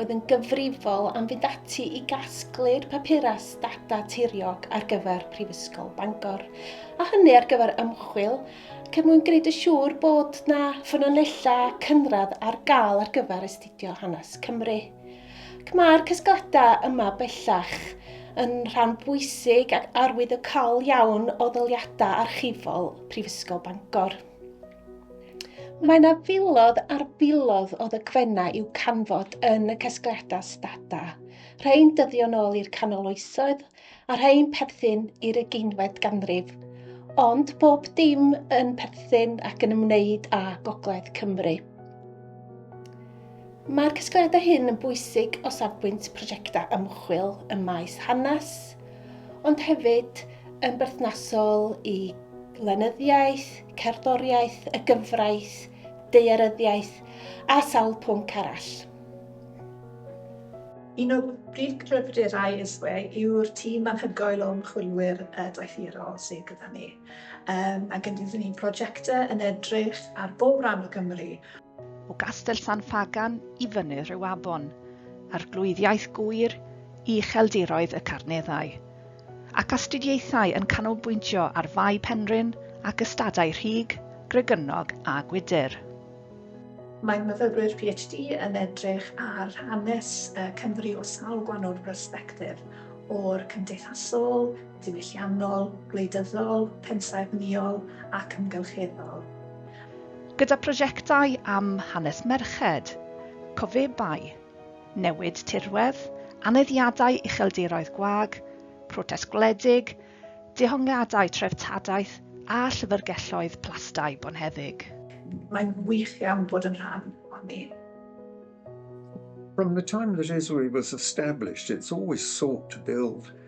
oedd yn gyfrifol am fynd ati i gasglu'r papurau data tiriog ar gyfer Prifysgol Bangor, a hynny ar gyfer ymchwil, ac er mwyn gwneud y siŵr bod na ffynonellau cynradd ar gael ar gyfer astudio hanes Cymru. Ac mae'r casgladau yma bellach yn rhan bwysig ac arwyddocaol iawn o ddaliadau archifol Prifysgol Bangor. Mae yna filodd ar filodd o ddogfennau i'w canfod yn y casgliadau stada. Rhain dyddion ôl i'r canol oesoedd a rhain perthyn i'r ugeinfed ganrif. Ond bob dim yn perthyn ac yn ymwneud â Gogledd Cymru. Mae'r casgliadau hyn yn bwysig o safbwynt prosiectau ymchwil ym maes hanes, ond hefyd yn berthnasol i lenyddiaeth, cerddoriaeth, y gyfraith, daearyddiaeth a sawl pwnc arall. Un o brif gryfderau ISWE yw'r tîm anhygoel o ymchwilwyr doethurol sydd gyda ni, mae gennym ni brojectau yn edrych ar bob rhan o Gymru, o Gastell San Ffagan i fyny'r Rhiwabon, Arglwyddiaeth Gŵyr ucheldiroedd y Carneddau, ac astudiaethau yn canolbwyntio ar Fae Penrhyn ac ystadau Rhug, Gregynog a Gwydir. Mae myfyrwyr PhD yn edrych ar hanes Cymru o sawl gwahanol bersbectif, o'r cymdeithasol, diwylliannol, gwleidyddol, pensaernïol ac amgylcheddol. Gyda prosiectau am hanes merched, cofebau, newid tirwedd, aneddiadau ucheldiroedd gwag, protest gwledig, dehongliadau treftadaeth a llyfrgelloedd plastai bonheddig. Mae'n wych iawn bod yn rhan ohoni. From the time that Israel was established, it's always sought to build